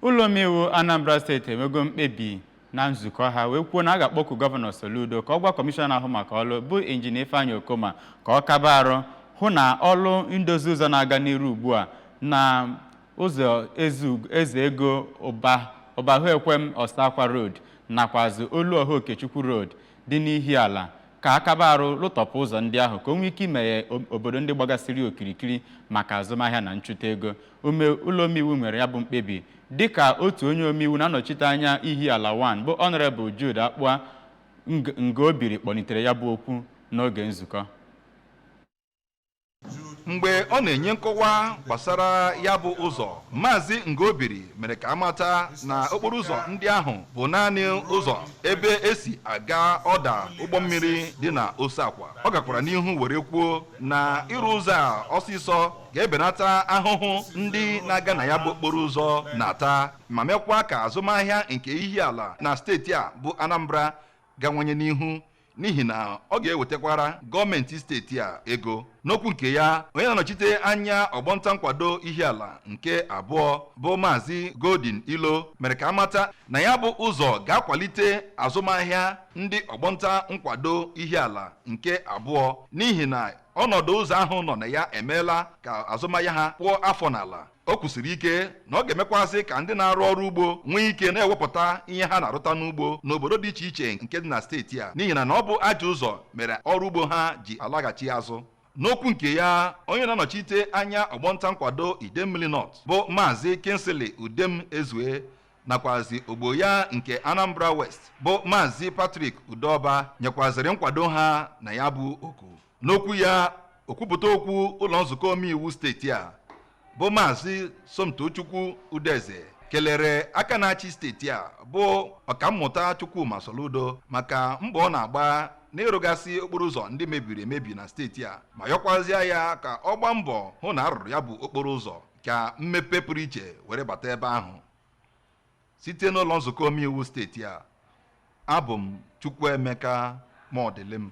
ụlọ omeiwu anambra steeti emego mkpebi na nzukọ ha wee kwuo na a ga-akpọku gọvanọ soludo ka ọ gwa kọmishọna na-ahụ maka ọrụ bụ injinia ifeanyị okoma ka ọ kaba arụ hụ na ọrụ ndozi ụzọ na-aga n'iru ugbu a na ụzọ eze ego ụbahuekwem oseakwa road nakwazị oluọha okechukwu road dị n'Ihiala ka a kaba arụ lụtọpụ ụzọ ndị ahụ ka o nwee ike imeghe obodo ndị gbagasịrị okirikiri maka azụmahịa na nchụta ego ume ụlọ omeiwu nwere ya bụ mkpebi dịka otu onye omeiwu na-anọchite anya Ihiala wan bụ ọnọrebụl Jude Akpụa Ngobiri kpọlitere ya bụ okwu n'oge nzukọ mgbe ọ na-enye nkọwa gbasara ya bụ ụzọ maazị Ngobiri mere ka a mata na okporo ụzọ ndị ahụ bụ naanị ụzọ ebe e si aga ọda ụgbọ mmiri dị na Oseakwa ọ gakwara n'ihu were kwuo na ịrụ ụzọ a ọsịsọ ga-ebenata ahụhụ ndị na-aga na ya bụ okporo ụzọ na-ata ma mekwa ka azụmahịa nke Ihiala na steeti a bụ Anambra gawanye n'ihu n'ihi na ọ ga-ewetakwara gọọmenti steeti a ego n'okwu nke ya onye na-anọchite anya ọgbọnta nkwado Ihiala nke abụọ bụ Maazị Golden Ilo mere ka a mata na ya bụ ụzọ ga-akwalite azụmahịa ndị ọgbọnta nkwado Ihiala nke abụọ n'ihi na ọnọdụ ụzọ ahụ nọ na ya emeela ka azụmahịa ha kpụọ afọ n'ala o kwusiri ike na ọ ga-emekwazị ka ndị na-arụ ọrụ ugbo nwee ike na-ewepụta ihe ha na-arụta n'ugbo n'obodo dị iche iche nke dị na steeti a n'ihi na na ọ bụ ajọ ụzọ mere ọrụ ugbo ha ji alaghachi azụ n'okwu nke ya onye na-anọchite anya ọgbọnta nkwado idemmili nọt bụ maazị kingsley udemezue nakwazi ogbo ya nke anambra west bụ maazị patrick udoba nyekwaziri nkwado ha na ya bụ oku N'okwu ya okwupụta okwu ụlọ nzukọ omeiwu steeti a bụ maazị Somtochukwu Udeze kelere aka na-achị steeti a bụ ọkammụta Chukwuma Soludo maka mbọ ọ na-agba n'ịrụgasị okporo ụzọ ndị mebiri emebi na steeti a ma yọkwazịa ya ka ọ gbaa mbọ hụ na a rụrụ ya bụ okporo ụzọ ka mmepe pụrụ iche were bata ebe ahụ site n'ụlọ nzukọ omeiwu steeti a abụ m Chukwuemeka Mọdịlịm